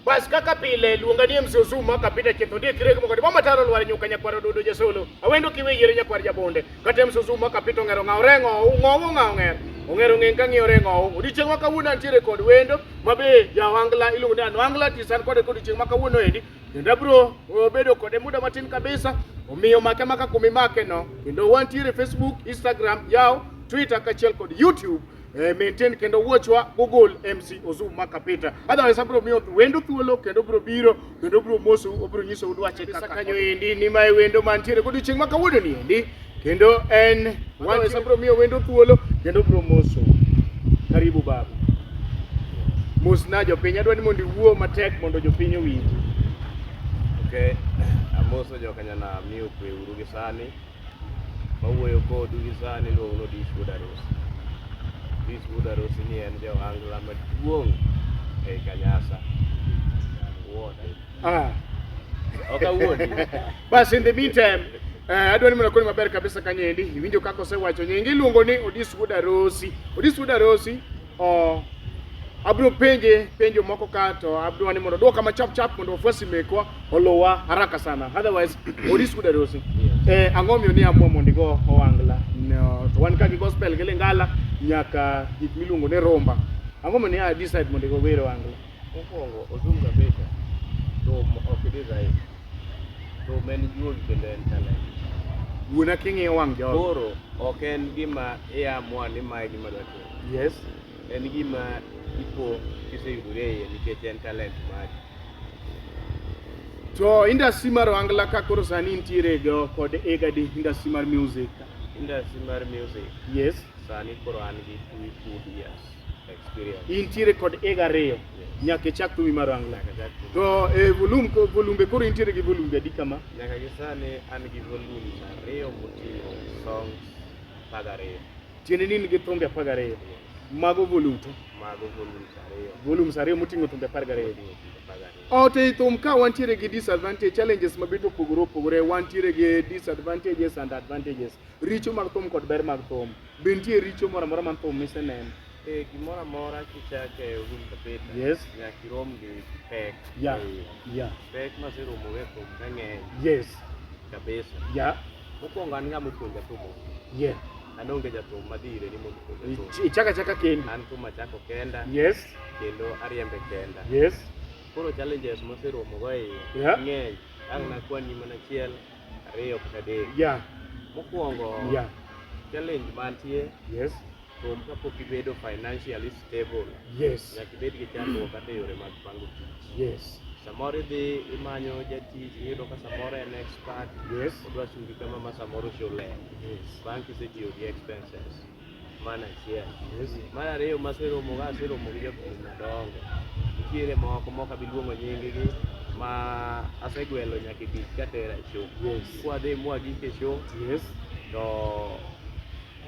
Bas kaka pile luonga ni MC Ozuma kapita chetho ndie kirego moko mama taro lwar nyuka nyakwar ododo jasolo awendo kiwe yere nyakwar jabonde kata MC Ozuma kapita ongero ngao rengo ngao ngao ngero ongero ngeng kang'iyo rengo odiochieng' ma kawuono antiere kod wendo mabe jawangla iluongo ni anwangla tisan kode kod odiochieng' ma kawuono endi kendo abro bedo kode muda matin kabisa omiyo make maka kumimakeno kendo wantiere Facebook Instagram yaw Twitter kaachiel kod YouTube eh, maintain kendo wuochwa gogol MC Ozum maka Peter. Otherwise abro miyo wendo thuolo kendo bro biro kendo bro mosu obro nyiso udwache kaka kanyo endi ni mae wendo mantiere kod chieng' maka wuodo ni endi kendo en wan sabro miyo wendo thuolo kendo bro mosu. Karibu babu. Mosna jopiny adwani mondo iwuo matek mondo jopiny owinji. Okay. Amoso jokanyana miyo kwe uru gi sani. mawuoyo kodu gi sani iluongo ni Dish Wuod Arusi. Dish Wuod Arusi ni en jawangla maduong' ei Kanyasa. Wuode. Ah. Ok awuodi. Bas in the meantime, eh, adwa ni mondo akoni maber kabisa kanyendi. Iwinjo kaka osewacho nyingi iluongo ni Odis Wuod Arusi. Odis Wuod Arusi Oh, abiro penje penjo moko ka to abiro ni mondo dwoka ma chap chap mondo wafuasi mekwa olowa haraka sana otherwise odis kuda dosi eh ang'o miyo ni amua mondo igo owangla no to wan ka gi gospel gi lingala nyaka gik miluongo ni rumba ang'o miyo ni a decide mondo igo wero owangla Mokwongo odum kabisa thum ok design. Thum en juol kendo en talent. wuona king'iyo wang' jogo Koro ok en gima iamua ni mae gima dwa timo. Yes, en gima ipo kiseyudori e iye nikech en talent mari. To industry mar Ohangla ka koro sani intiere go kod ega di industry mar music. Industry mar music. Yes. Sani koro an gi two good years experience. Intiere kod ega ariyo. Yes. Nyaka ichak thumi mar Ohangla. To e eh, volume ko volume koro intiere gi volume adi kama? Nyaka gi sani an gi volume ariyo moting'o songs mag ariyo. Tiende ni in gi thumbe apar gariyo. Mago volute. Mago volumes ariyo. Volumes ariyo moting'o thumbe apar gariyo. Moting'o thumbe apar gariyo. Ot ei thum ka wantiere gi disadvantage, challenges mabet opogore opogore, wantiere gi disadvantages and advantages. Richo mag thum kod ber mag thum. Be nitie richo moro amora man thum miseneno? Eh, gimoro amora kichako e room kabisa, Yes. nyaka irom gi pek. Yeah. Eh, Yeah. Pek maseromogo e thum ka ng'eny Yes. kabisa. Yeah. Mokwongo an ng'ama opuonja thum. Yeah. An onge jathum madhi ire ni mondo opuonja thum. Ichaka chaka kendi. An thum achako kenda. Yes. Kendo ariembe kenda. Yes. Koro challenges moseromogo e iye. Yeah. Ng'eny. Ang' nakwani mana achiel, ariyo kata adek. Yeah. Mokwongo. Yeah. Challenge mantie. Yes. From kapok ibedo financially stable. Yes. Nyaka ibed gi chandruok kata yore mag pango tich. Yes. Samoro idhi imanyo jatich iyudo ka samoro en expert. Yes. Odwa chungi kama ma samoro shule. Yes. Bang' kisetiyo gi expenses. Mana achiel. Yes. Mar ariyo maseromo ga aseromo gi jopur madongo. Nitiere moko mok abi luongo nyinggi ma asegwelo nyaka tich katera e show. Yes. Kwadhi mwagik e show. Yes. To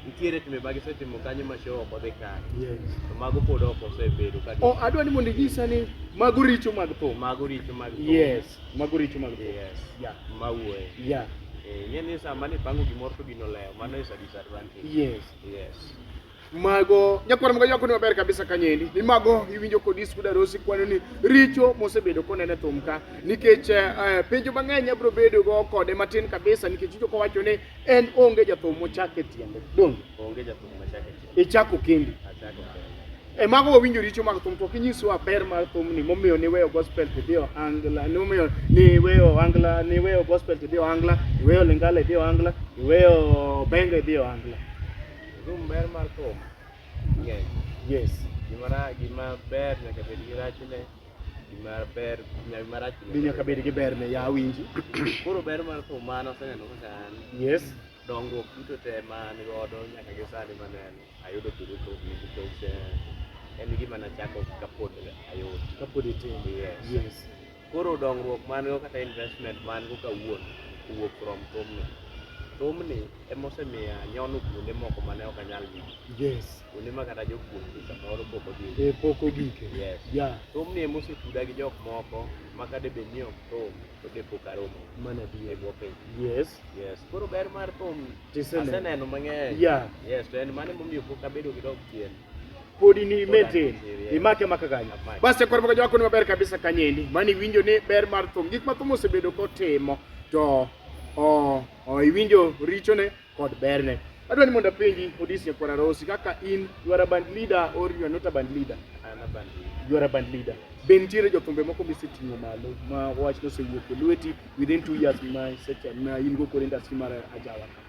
nitiere timbe ma gisetimo kanyo ma show ok odhi kare Yes. to mago pod ok osebedo ka Oh, adwa ni mondo inyisa ni mago richo mag thum. mago richo mag thum. Yes, mago richo mag thum. yes Yeah. mawuoye Yeah. Eh, ing'e ni sama nipango gimoro to gino lewo mano is a disadvantage Yes. yes mago nyakwar mga yako ni maber kabisa kanyendi ni mago iwinjo kod isku darosi kwano ni richo mosebedo konene thum ka nikech eh, eh, penjo mang'eny abro bedo go kode matin kabisa nikech ijo kowacho ni En onge jathum mochak e tiende. Don. Onge jathum mochak e tiende. Ichako kendi. Achako kendi. E mago wawinjo richo mag thum to kinyiswa ber mar thum ni momiyo ni weyo gospel to dhi ohangla ni momiyo ni weyo ohangla ni weyo gospel to dhi ohangla ni weyo lingala e dhi ohangla ni weyo benga e dhi ohangla. Thum ber mar thum. Yes. Yes. Gima ra, gima ber nyaka bed gi rachne. gima ber nyaka gima rach Be nyaka bed gi berne, ya awinji. koro ber mar thum mano aseneno kaka an Yes. dongruok duto te ma an godo nyaka gi sani maneno ayudo thuolo thumni nikech eh, en gima nachako kapod ayot Kapod itin. Yes. Yes. koro dongruok man go kata investment man go kawuono owuok from thumni thumni emosemiya nyono kuonde moko mane ok anyal yudo Yes. kuonde ma kata jopuonjre samoro pok odhi e pok ogike yes yeah. thumni ema osetuda gi jok moko ma kade bed ni ok thum to de pok aromo mana bi e bwo piny yes yes koro ber mar thum aseneno mang'eny yeah yes to en mane momiyo pok abedo gi dog chien podi ni metin imake maka kanyo basi koro maka jwako ni maber kabisa kanyendi mani winjo ni ber mar thum gik ma thum osebedo kotimo to o, o iwinjo richone kod berne. Adwa ni mondo apenji Odisia Kwara Rosi kaka in you are a band leader or you are not a band leader? I'm a band leader. You are a band leader. Be nitiere jothumbe moko miseting'o malo ma wach nosewuok e lweti within two years ma seche ma in go kod industry mar ajawa ka?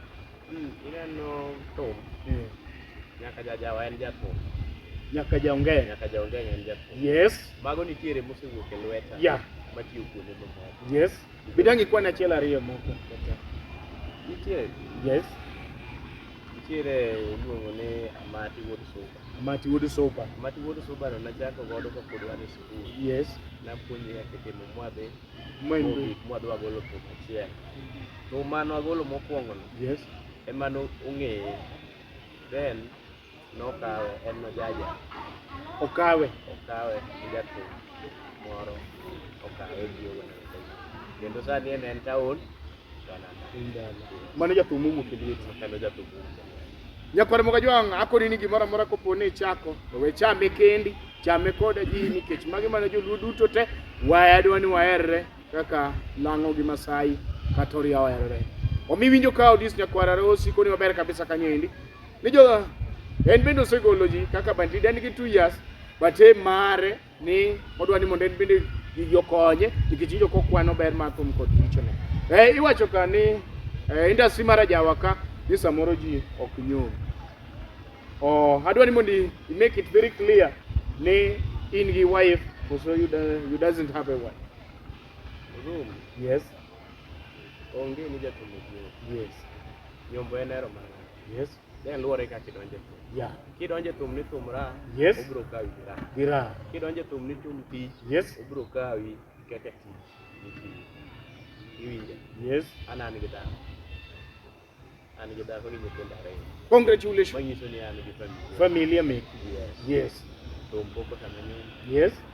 Mm, ineno thum. Eh. Nyaka jajawa en jathum. Nyaka jaongee. Nyaka jaongee en jathum. Yes. Mago nitiere mosewuok e lweta. Yeah. Matiyo kuonde mamoko. Yes. Bidangi kwan achiel ariyo moko. Nitie. Yes. Nitiere iluongo ni Amati Wuod Suba. Amati Wuod Suba. Amati Wuod Suba no nachako godo ka pod wan e skul. Yes. Napuonje kaka itimo mwadhi. Mwadhi. Mwadhi wagolo thum achiel. Thum mano agolo mokwongo no. Yes. Ema no ong'eye. Then Nokawe, en nojaja. Okawe. Okawe gi jathum moro okawe gi owuoyo kendo sani en en taon mano jathum owuok e lieti kendo jathum nyakwar moga jwang' akoni ni gimoro amora kopo ni ichako to we chame kendi chame koda ji nikech magi mana joluo duto te wadwa ni waherre kaka lang'o gi masai kata oria oherore omi winjo ka odis nyakwar arosi koni maber kabisa kanyo endi ni jo en bende osegolo ji kaka bandit en gi two years but e mare ni odwa ni mondo en bende gigi okonye nikech injo kokwano ber mar thum kod richone eh, iwacho ka ni eh, industry mar ajawa ka ni samoro ji ok nyom oh, adwa ni mondo i make it very clear ni in gi wife koso you, do, you doesn't have a wife room yes onge ni jatumo yes nyombo en ero mana Yes. Ne luwore kaka kidonjo e thum. Yeah. Kidonjo e thum ni thum ra, Yes. obiro kawi gi ra. Gi ra. Kidonjo e thum ni thum tich, Yes. obiro kawi kaka tich ni tich. Iwinja? Yes. An an gi dhako. An gi dhako gi nyithindo ariyo. Congratulations. Manyiso ni an gi familia. Familia meki. Yes. Yes. Thum pok otama nyuol. Yes.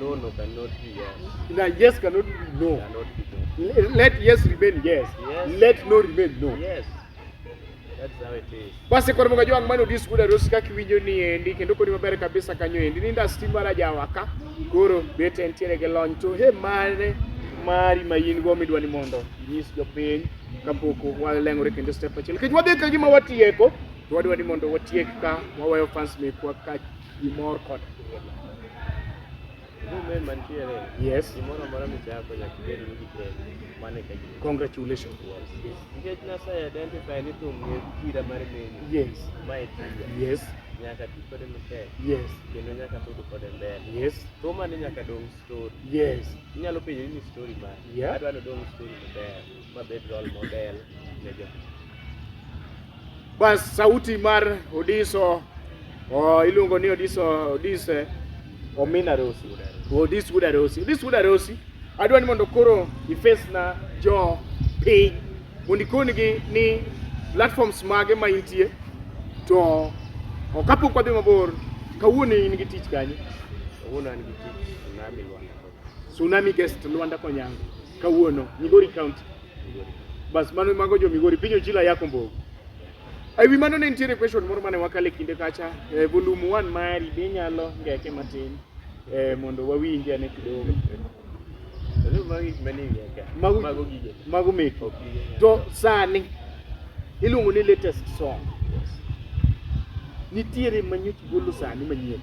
No, no, cannot be yes. Now, yes cannot be no. Cannot be no. L- let yes remain yes. yes. Let no remain no. Yes. Basi kwa mga jwang mano dis kuda rosi kaki winyo ni endi kendo kodi mabere kabisa kanyo endi ninda stima la jawaka koro bete entiere ke lony to he mane mari ma in go midwa ni mondo inyis jopiny kapok waleng'ore kendo step achiel kech wadhi ka gima watieko to wadwa ni mondo watiek ka waweyo fans mekwa ka gi mor kod ilo. Movement mantiere, Yes. gimoro amora michako nyaka ibed ni itego. Mano e ka gin. Congratulations. Nikech Nyasaye identify ni thum ni kira mar meni, Yes. ma e tija. Yes. Nyaka ti kode matek, Yes. kendo nyaka sud kode mbele. Yes. Thumani nyaka dong' story. Yes. Inyalo penjori ni story mane? Yeah. Adwa ni odong' story maber. Bas sauti mar Odiso oh, iluongo ni Odiso Odise Omina Rosi. Odis Wuda Rosi. Odis Wuda Rosi. Adwa ni mondo koro ifes na jo piny mondo ikonigi ni platforms mage ma intie to kapok wadhi mabor kawuono in gi tich kanye? Kawuono an gi tich Tsunami Rwanda Tsunami guest Luanda Konyango kawuono Migori County. Bas mano mago jo Migori pinyo jila yako mbogo. Ai wi mano ne nitiere question moro mane wakale kinde kacha eh, volume 1 mari be nyalo ngeke matin eh, mondo wawinje ane kidogo. Mago mago gige. Mago meko. To sani iluongo ni latest song. Nitiere manyoch golo sani manyien.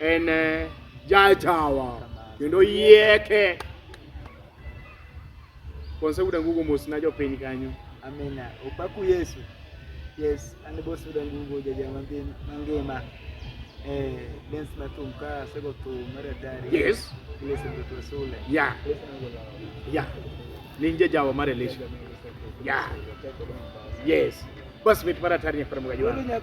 en eh, jajawa kendo yieke konseuda ngugo mos na jopiny kanyo amina opaku yesu yes an bosuda ngugo jaja mangima mangima eh dance na tum ka sego tum maratari yes listen to tosule ya ya ni jajawa mar elisha ya yes bas mit maratari nyakwar mgaji wangu